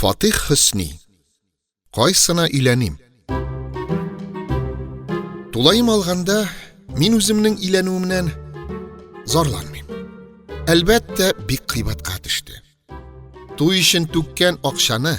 Фатих Хөсни. Кайсына өйләним? Тулаем алганда, мин үземнең өйләнүемнән зарланмыйм. Әлбәттә, бик кыйбатка төште. Туй өчен түккән акчаны,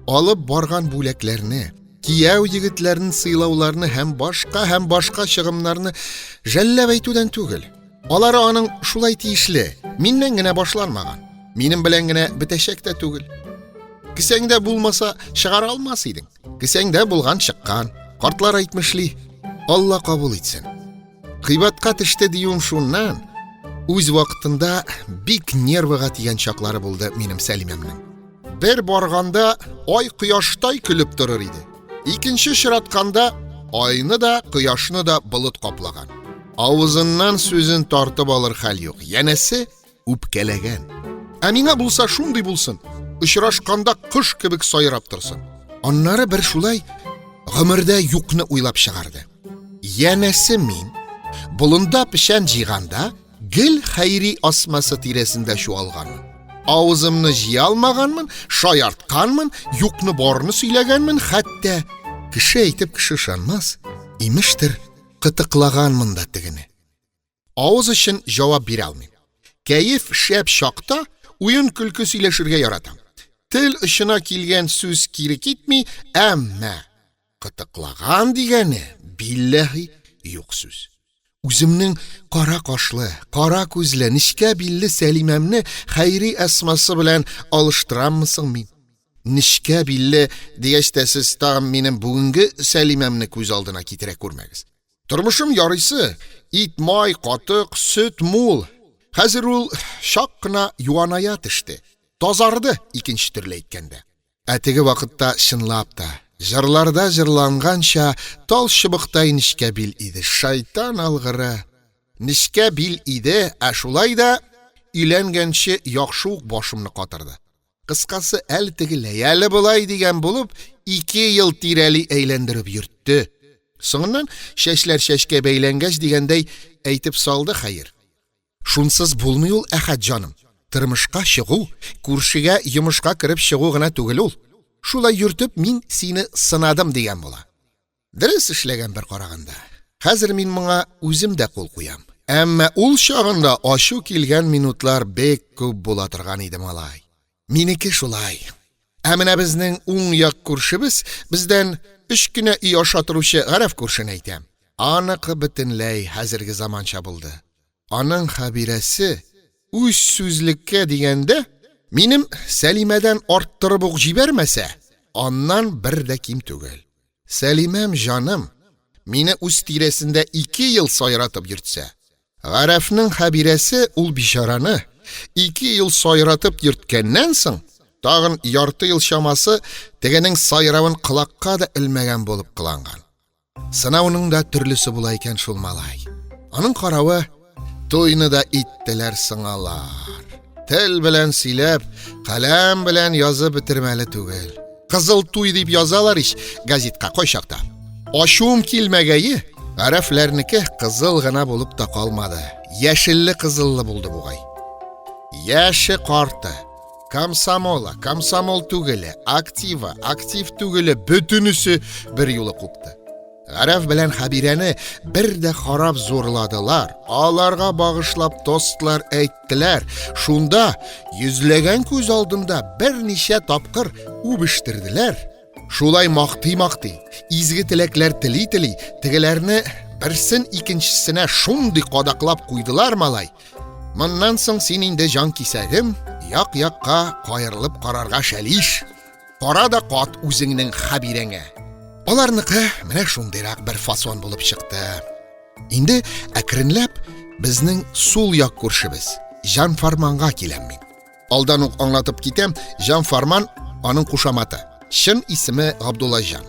алып барган бүләкләрне, кияү егетләрен сыйлауларны һәм башка һәм башка чыгымнарны жәлләп әйтүдән түгел, Алары аның шулай тиешле, миннән генә башланмаган. Минем белән генә бетәчәк тә түгел. Кесәңдә булмаса, чыгара алмас идең. Кесәңдә булган чыккан. Картлар әйтмешли, Алла кабул итсен. Кыйбатка төште диюем шуннан, үз вакытында бик нервыга тигән чаклары булды минем Сәлимәмнең. Бер барганда ай кояштай көлеп торыр иде. Икенче чиратканда айны да, кояшны да болыт каплаган. Авызыннан сүзен тартып алыр хәл юк. Янәсе үпкәләгән. Ә миңа булса шундый булсын. Очрашканда кыш кебек сайрап торсын. Аннары бер шулай гомердә юкны уйлап чыгарды. Янәсе мин болында печән җыйганда Гел хәйри асмасы тирәсендә чуалганмын. Авызымны җыя алмаганмын, шаяртканмын, юкны барны сөйләгәнмен, хәтта кеше әйтеп кеше ышанмас, имештер, кытыклаганмын да тегене. Авыз өчен җавап бирә алмыйм. Кәеф шәп чакта уен-көлке сөйләшергә яратам. Тел очына килгән сүз кире китми, әмма Кытыклаган дигәне, билләһи, юк сүз. Үземнең кара кашлы, кара күзле, нечкә билле Сәлимәмне Хәйри Әсмасы белән алыштыраммы соң мин? Нечкә билле дигәч тә, сез тагын минем бүгенге Сәлимәмне күз алдына китерә күрмәгез. Тормышым ярыйсы, ит-май, катык, сөт мул. Хәзер ул чак кына юаная төште, тазарды, икенче төрле әйткәндә. Ә теге вакытта, чынлап та, җырларда җырланганча, тал чыбыктай нечкә бил иде. Шайтан алгыры! Нечкә бил иде, ә шулай да өйләнгәнче яхшы ук башымны катырды. Кыскасы, әле тегеләй, әле болай дигән булып, ике ел тирәли әйләндереп йөртте. Соңыннан, чәчләр чәчкә бәйләнгәч дигәндәй, әйтеп салды, хәер. Шунсыз булмый ул, Әхәт җаным. Тормышка чыгу, күршегә йомышка кереп чыгу гына түгел ул. Шулай йөртеп, мин сине сынадым дигән була. Дөрес эшләгән бер караганда. Хәзер мин моңа үзем дә кул куям. Әмма ул чагында ачу килгән минутлар бик күп була торган иде, малай. Минеке шулай. Ә менә безнең уң як күршебез бездән өч кенә өй аша торучы Гарәф күршене әйтәм. Аныкы бөтенләй хәзерге заманча булды. Аның Хәбирәсе, үз сүзлеккә дигәндә, минем Сәлимәдән арттырып ук җибәрмәсә, аннан бер дә ким түгел. Сәлимәм җаным, мине үз тирәсендә ике ел сайратып йөртсә, Гарәфнең Хәбирәсе ул бичараны ике ел сайратып йөрткәннән соң, тагын ярты ел чамасы тегенең сайравын колакка да элмәгән булып кыланган. Сынауның да төрлесе була икән шул, малай. Аның каравы, туйны да иттеләр соң алар. Тел белән сөйләп, каләм белән язып бетермәле түгел. Кызыл туй дип язалар ич газетка кайчакта. Ачуым килмәгәе, гарәфләрнеке кызыл гына булып та калмады. Яшелле кызыллы булды бугай. Яше карты, комсомола, комсомол түгеле, актива, актив түгеле бөтенесе бер юлы купты. Гарәф белән Хәбирәне бер дә карап зурладылар, аларга багышлап тостлар әйттеләр, шунда йөзләгән күз алдында берничә тапкыр үбештерделәр. Шулай мактый-мактый, изге теләкләр тели-тели, тегеләрне берсен икенчесенә шундый кадаклап куйдылар, малай. Моннан соң син инде җанкисәгем, як-якка каерылып карарга чәлиш. Кара да кат үзеңнең Хәбирәңә. Аларныкы менә шундыйрак бер фасон булып чыкты. Инде әкренләп безнең сул як күршебез Җан Фарманга киләм мин. Алдан ук аңлатып китәм, Җан Фарман аның кушаматы. Чын исеме Габдулла Җан.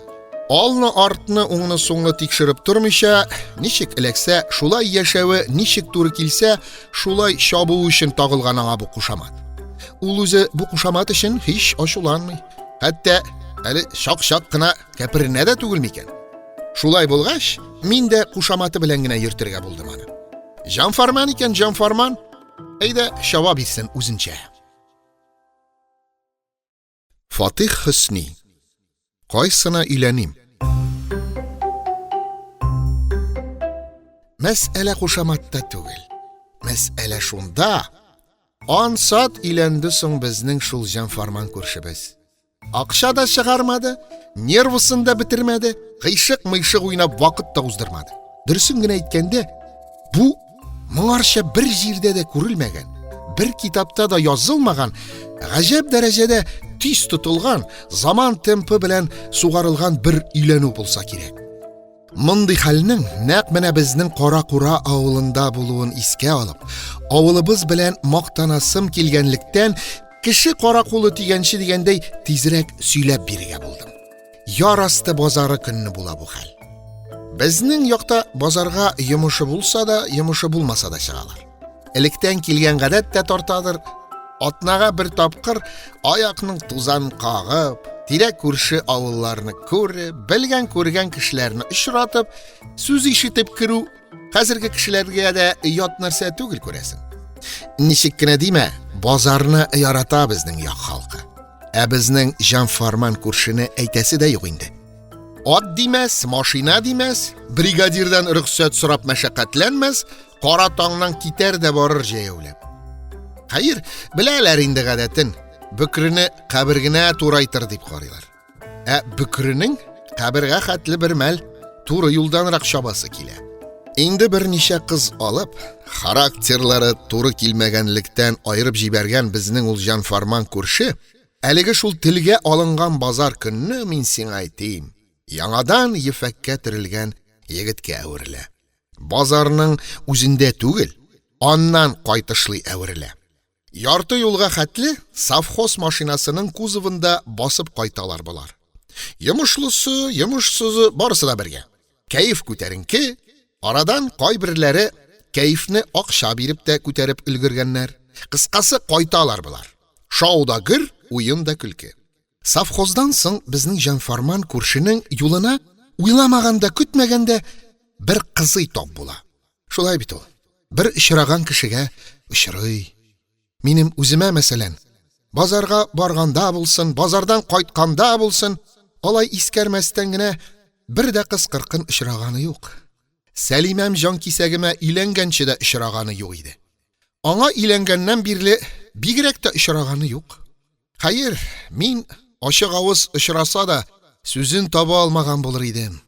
Алны артны уңны соңны тикшереп тормыйча, ничек эләксә, шулай яшәве ничек туры килсә, Шулай чабу өчен тагылган аңа бу кушамат. Ул үзе бу кушамат өчен һич ачуланмый. Хәтта әле чак-чак кына кәперенә дә түгел микән? Шулай булгач, мин дә кушаматы белән генә йөртергә булдым аны. Җанфарман икән, җанфарман. Әйдә, чаба бирсен үзенчә. Фатих Хөсни. Кайсына өйләним? Мәсьәлә кушаматта түгел. Мәсьәлә шунда, ансат өйләнде соң безнең шул җанфарман күршебез. Акча да чыгармады, нервысын да бетермәде, кыйшык-мыйшык уйнап вакыт та уздырмады. Дөресен генә әйткәндә, бу моңарчы бер җирдә дә күрелмәгән, бер китапта да язылмаган гаҗәп дәрәҗәдә тиз тотылган, заман темпы белән сугарылган бер өйләнү булса кирәк. Мондый хәлнең нәкъ менә безнең Каракура авылында булуын искә алып, авылыбыз белән мактанасым килгәнлектән, кеше каракулы тигәнче дигәндәй, тизрәк сөйләп бирергә булдым. Яр асты базары көнне була бу хәл. Безнең якта базарга йомышы булса да, йомышы булмаса да чыгалар. Электән килгән гадәт тә тартадыр. Атнага бер тапкыр аякның тузан кагып, тирә күрше авылларны күреп, белгән күргән кешеләрне очратып, сүз ишетеп керү Хәзерге кешеләргә дә ят нәрсә түгел күрәсең. Ничек кенә димә, базарны ярата безнең як халкы. Ә безнең җан фарман күршене әйтәсе дә юк инде. Ат димәс, машина димәс, бригадирдан рөхсәт сорап мәшәкатьләнмәс, кара таңнан китәр дә барыр җәяүләп. Хәер, беләләр инде гадәтен, бөкрене кабергенә турайтыр дип карыйлар. Ә бөкренең кабергә хәтле бер мәл туры юлданрак чабасы килә. Инде берничә кыз алып, характерлары туры килмәгәнлектән аерып җибәргән безнең ул җан фарман күрше, әлеге шул телгә алынган базар көнне мин сиңа әйтим, яңадан ефәккә төрелгән егеткә әверелә. Базарның үзендә түгел, аннан кайтышлый әверелә. Ярты юлга хәтле совхоз машинасының кузовында басып кайталар болар. Йомышлысы, йомышсызы, барысы да бергә. Кәеф күтәренке, арадан кайберләре кәефне акча биреп тә күтәреп өлгергәннәр. Кыскасы, кайталар болар. Шау да гөр, уен да көлке. Совхоздан соң безнең җанфарман күршенең юлына уйламаганда-көтмәгәндә бер кызый тап була. Шулай бит ул, бер очраган кешегә очрый. Минем үземә, мәсәлән, базарга барганда булсын, базардан кайтканда булсын, алай искәрмәстән генә бер дә кыз-кыркын очраганы юк. Сәлимәм җанкисәгемә өйләнгәнче дә очраганы юк иде. Аңа өйләнгәннән бирле бигрәк тә очраганы юк. Хәер, мин, ачык авыз очраса да, сүзен таба алмаган булыр идем.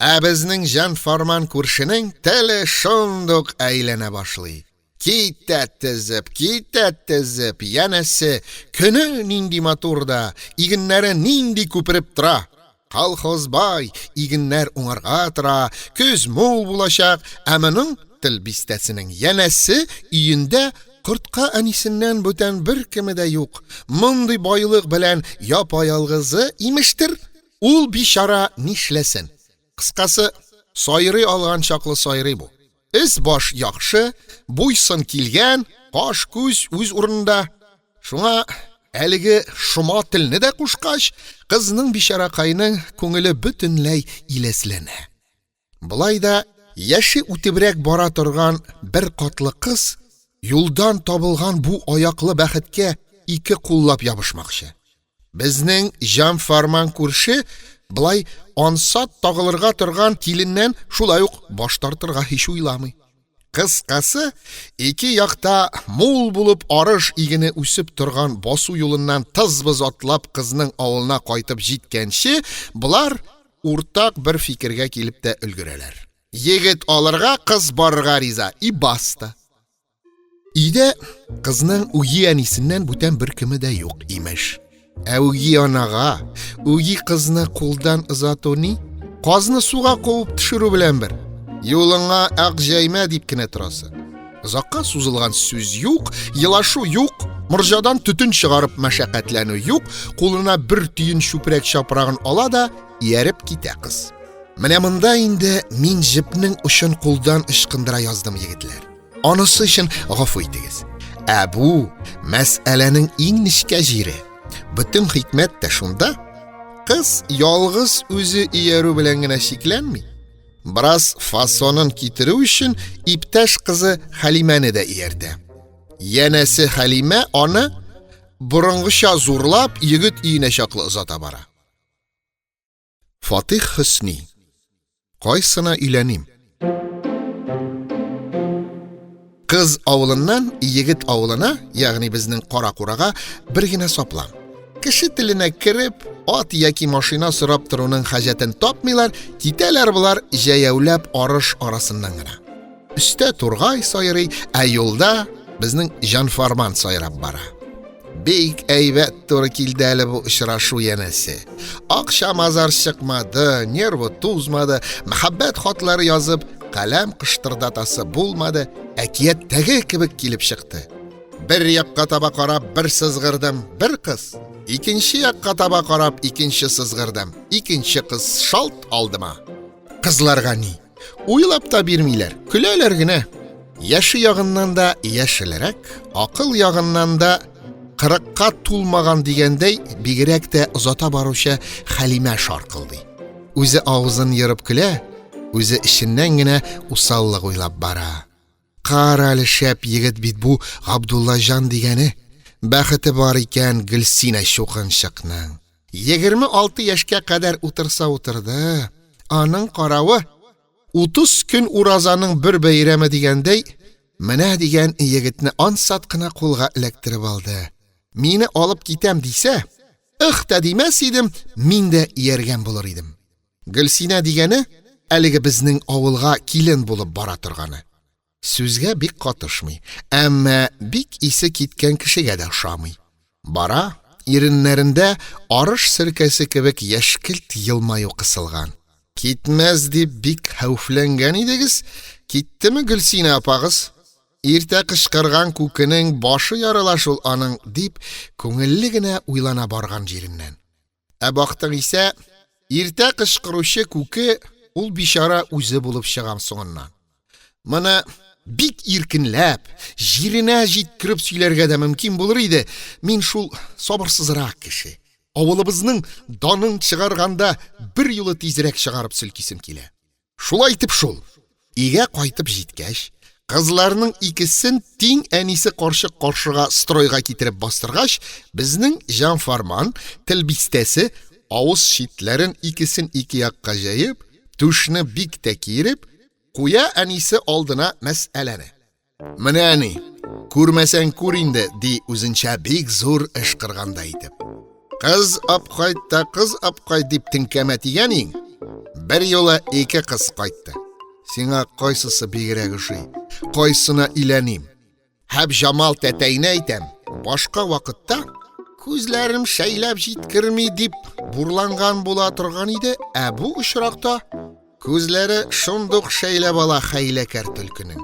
Ә безнең җан-фарман күршенең теле шундук әйләнә башлый. Китә тезеп, китә тезеп, янәсе, көне нинди матур да, игеннәре нинди күпереп тора! Колхозбай, игеннәр уңарга тора, көз мул булачак, ә моның, тел бистәсенең, янәсе, өендә кортка әнисеннән бүтән беркеме дә юк, мондый байлык белән япа-ялгызы, имештер, ул бичара нишләсен? Кыскасы, сайрый алган чаклы сайрый бу. Өс-баш яхшы, буй-сын килгән, каш-күз үз урынында. Шуңа, әлеге шома телне дә кушкач, кызның, бичаракаеның күңеле бөтенләй иләсләнә. Болай да яше үтебрәк бара торган бер катлы кыз юлдан табылган бу аяклы бәхеткә ике куллап ябышмакчы. Безнең җан-фарман күрше болай ансат тагылырга торган киленнән шулай ук баш тартырга һич уйламый. Кыскасы, ике якта мул булып арыш игене үсеп торган басу юлыннан тыз-быз атлап кызның авылына кайтып җиткәнче, болар уртак бер фикергә килеп тә өлгерәләр. Егет алырга, кыз барырга риза, и баста. Өйдә кызның үги әнисеннән бүтән беркеме дә юк, имеш. Ә үги анага үги кызны кулдан озату ни? Казны суга куып төшерү белән бер. Юлыңа ак җәймә дип кенә торасы. Озакка сузылган сүз юк, елашу юк, морҗадан төтен чыгарып мәшәкатьләнү юк, кулына бер төен чүпрәк чапрагын ала да ияреп китә кыз. Менә монда инде мин җепнең очын кулдан ычкындыра яздым, егетләр. Анысы өчен гафу итегез. Ә бу мәсьәләнең иң нечкә җире. Бөтен хикмәт тә шунда, кыз ялгыз үзе иярү белән генә чикләнми. Бераз фасонын китерү өчен иптәш кызы Халимәне дә ияртә. Янәсе Халимә аны борынгыча зурлап, егет өенә чаклы озата бара. Фатих Хөсни. Кайсына өйләним? Кыз авылыннан егет авылына, ягъни безнең Каракурага бер генә саплам. Кеше теленә кереп, ат яки машина сорап торуның хаҗәтен тапмыйлар, китәләр болар җәяүләп арыш арасыннан гына. Өстә тургай сайрый, ә юлда безнең җанфарман сайрап бара. Бик әйбәт туры килде әле бу очрашу, янәсе. Акча мазар чыкмады, нервы тузмады, мәхәббәт хатлары язып, каләм кыштырдатасы булмады, әкияттәге кебек килеп чыкты. Бер якка таба карап, бер сызгырдым, бер кыз. Икенче якка таба карап, икенче сызгырдым, икенче кыз шалт алдыма. Кызларга ни? Уйлап та бирмиләр, көләләр генә. Яше ягыннан да яшелрәк, акыл ягыннан да кырыкка тулмаган дигәндәй, бигрәк тә озата баручы Хәлимә шаркылдый. Үзе авызын ерып көлә, үзе эченнән генә усаллык уйлап бара. Кара әле, шәп егет бит бу Габдуллаҗан дигәне! Бәхете бар икән Гөлсинә чукынчыкның! Егерме алты яшькә кадәр утырса утырды, аның каравы, утыз көн уразаның бер бәйрәме дигәндәй, менә дигән егетне ансат кына кулга эләктереп алды. Мине алып китәм дисә, ыһ та димәс идем, мин дә ияргән булыр идем. Гөлсинә дигәне, әлеге безнең авылга килен булып бара торганы. Сүзгә бик катышмый, әмма бик исе киткән кешегә дә ошамый. Бара, иреннәрендә арыш серкәсе кебек яшькелт елмаю кысылган. Китмәс дип бик хәүфләнгән идегез, киттеме Гөлсинә апагыз? Иртә кычкырган күкенең башы ярыла шул аның, дип, күңелле генә уйлана барган җиреннән. Ә бактың исә, иртә кычкыручы күке ул бичара үзе булып чыгам соңыннан. Моны бик иркенләп, җиренә җиткереп сөйләргә дә мөмкин булыр иде, мин шул сабырсызрак кеше. Авылыбызның данын чыгарганда, берьюлы тизрәк чыгарып селкисем килә. Шулай итеп шул, өйгә кайтып җиткәч, кызларның икесен тиң әнисе карчык каршыга стройга китереп бастыргач, безнең җанфарман тел бистәсе, авыз читләрен икесен ике якка җәеп, түшне бик тә киереп, куя әнисе алдына мәсьәләне. Менә ни, күрмәсәң күр инде, ди үзенчә бик зур эш кырганда итеп. Кыз апкайт та кыз апкайт дип теңкәмә тигән иң, бер юлы ике кыз кайтты. Сиңа кайсысы бигрәк ошый? Кайсына иләним? Һәп Җамал тәтәйне әйтәм, башка вакытта күзләрем шәйләп җиткерми дип бурланган була торган иде, ә бу очракта Күзләре шундук шәйләп ала хәйләкәр төлкенең.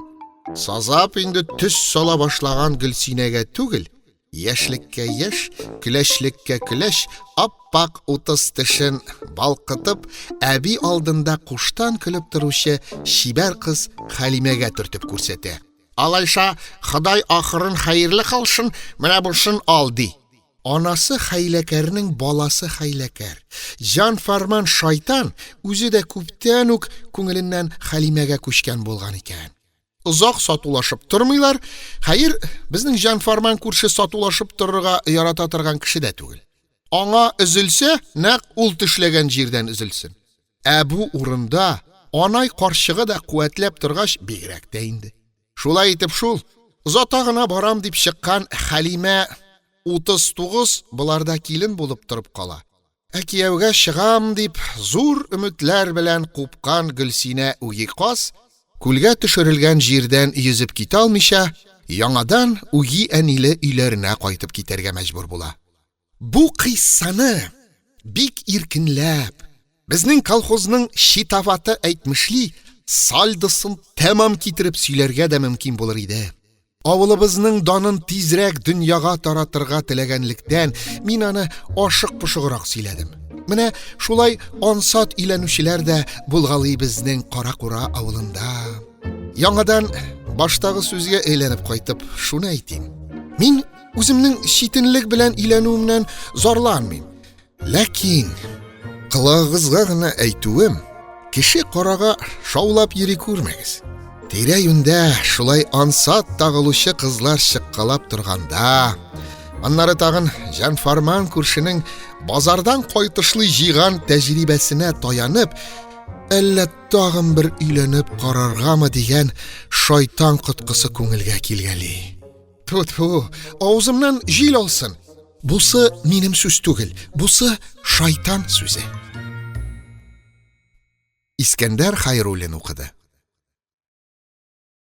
Сазап инде төс сала башлаган Гөлсинәгә түгел, яшьлеккә яшь, көләчлеккә көләч, ап-ак утыз тешен балкытып, әби алдында куштан көлеп торучы чибәр кыз Хәлимәгә төртеп күрсәтә. Алайса, Ходай ахырын хәерле кылсын, менә бусын ал, – ди. Анасы хәйләкәрнең баласы хәйләкәр, җан-фарман шайтан үзе дә күптән үк күңеленнән Хәлимәгә күчкән булган икән. Озак сатулашып тормыйлар, хәер, безнең җан-фарман күрше сатулашып торырга ярата торган кеше дә түгел. Аңа өзелсә, нәкъ ул төшләгән җирдән өзелсен. Ә бу урында Анай карчыгы да куәтләп торгач, бигрәк тә инде. Шулай итеп шул, озата гына барам дип чыккан Хәлимә 39 боларда килен булып торып кала, ә кияүгә чыгам дип, зур өметләр белән купкан Гөлсинә үги каз, күлгә төшерелгән җирдән йөзеп китә алмыйча, яңадан үги әниле өйләренә кайтып китәргә мәҗбүр була. Бу кыйссаны бик иркенләп, безнең колхозның читаваты әйтмешли, сальдосын тәмам китереп сөйләргә дә мөмкин булыр иде. Авылыбызның данын тизрәк дөньяга таратырга теләгәнлектән, мин аны ашык-пошыграк сөйләдем. Менә шулай ансат өйләнүчеләр дә булгалый безнең Каракура авылында. Яңадан баштагы сүзгә әйләнеп кайтып, шуны әйтим, мин, Үземнең читенлек белән өйләнүемнән зарланмыйм. Ләкин колагыгызга гына әйтүем, кеше карага шаулап йөри күрмәгез. Тирә-юньдә шулай ансат тагылучы кызлар чыккалап торганда, аннары тагын җанфарман күршенең базардан кайтышлый җыйган тәҗрибәсенә таянып, әллә тагын бер өйләнеп караргамы дигән шайтан коткысы күңелгә килгәли. Тфү-тфү, авызымнан җил алсын! Бусы минем сүз түгел, бусы шайтан сүзе. Искәндәр Хайруллин укыды.